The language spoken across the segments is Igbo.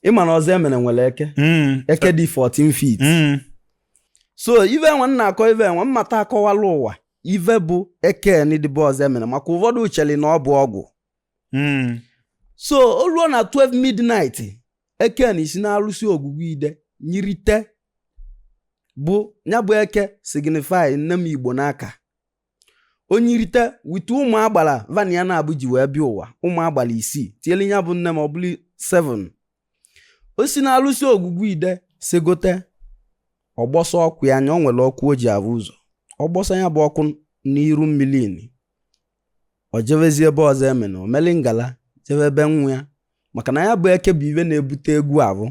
ịma na ọzọemene nwere eke mm. eke dị 14 feet mm. so ive enwe na-akọ ive enwe mmata akọwala ụwa ive bụ eke ni dị be ọzọemene maka ụfọdụ cheli na ọ bụ ọgwụ mm. so o luo na 12 midnight eke ni si n'alụsị ogwugwu ide nyirite nya bụ eke signify nne m igbonaka o nyirite wite ụmụ agbala va na ya na-abụ ji wee bịa ụwa ụmụ agbala isii tiele nya bụ nne m ọ bụrụ 7 o si n'alụsị ogwugwu ide segote ọ gbọsa ọkụ ya anya o nwere ọkụ o ji avụ ụzọ ọ gbọsa ya bụ ọkụ n'iru mmili ni o jebezi be ọzọemene o meli ngala jebe be nwa ya maka na ya bụ eke bụ ive na-ebute egwu avụ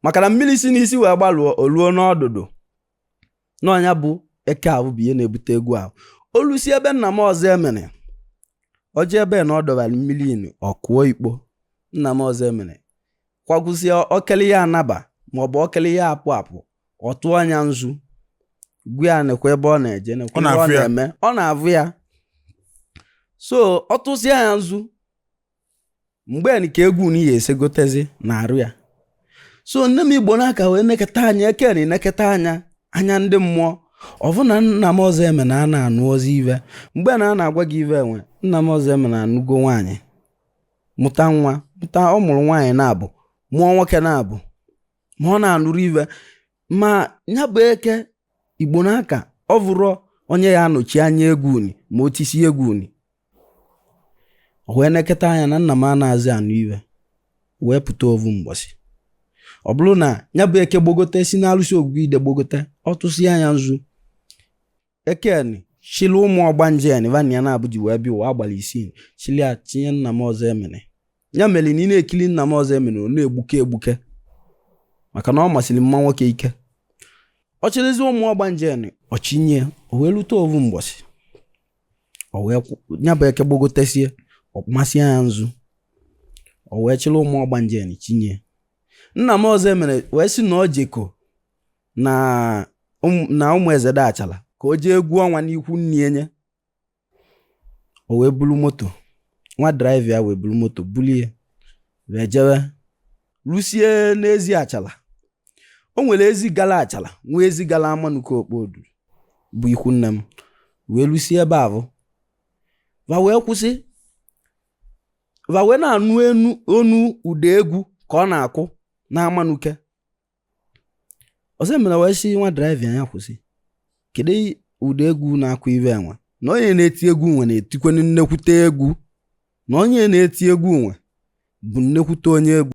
maka na mmiri si n'isi wee gbalụọ o luo n'ọdụdụ na nya bụ eke avụ bụ ihe na-ebute egwu ahụ o lusie be nna m ọzọemene o je ebe na ọ dọbara mmili ni ọ kụọ ikpo nna m ọzọemene kwagwụzie okele ya anaba maọbụ okele ya apụ apụ ọ tụọ nya nzu gwa ya nekwa ebe ọ na-eje nekwa ebe ọ na-eme ọ na-avụ ya so ọ tụsịa ya nzu mgbe nke egwu ni esegotezi n'arụ ya so nne m igbonaka wee neketa anya eke ni neketa anya anya ndị mmụọ ọ vụ na nna m ọzọemene a na-anụzi ive mgbe na a na-agwa gị ive enwe nna m ọzọemene anụgo nwaanyị mụta nwa mụta ọ mụrụ nwaanyị na-abụ mụọ nwoke na-abụ ma ọ na-anụrọ ive ma nya bụ eke igbonaka ọ vụrụ onye ya-anọchi anya egwu ni ma o tisi egwu ni wee neketa anya na nna m anazị anụ ive wee pụta ovu mgbọsị ọ bụrụ na nya bụ eke gbogote si n'alụsị ogwugwu ide gbogote ọ tụsịa nya nzu eke ni chịlị ụmụ ọgbanje ni va na ya na-abụ ji wee bịa ụwa agbala isii chịlị ya tinye nna m ọzọemene ya mere na ị na-ekili nna m ọzọemene ọ na-egbuke egbuke maka na ọ masịrị mma nwoke eke ọ chịrịzi ụmụ ọgbanje ni chinye o wee lute ovu mgbọsị nya bụ eke gbogotesie ọ masịa ya nzu o wee chịrị ụmụ ọgbanje ni chinye nna m ọzọemene wee sị na o jeko na ụmụezede achala ka o jee egwu ọnwa n'ikwu nne nye o wee bulu moto nwa driver ya wee bulu moto bulie wee jewe lusie n'ezi achala o nwere ezi gala achala nwee ezi gala amanuke okpodu bụ ikwu nne m wee lusie ebe avụ va wee kwụsị va wee na-anụ ọnụ ụda egwu ka ọ na-akụ na amanuke ọsị mere wee sị nwa draiva nya kwụsị kedu ụdị egwu na-akụ ibe nwe na onye na-eti egwu nwe na-etikwenu nnekwute egwu na onye na-eti egwu nwe bụ nnekwute onye egwu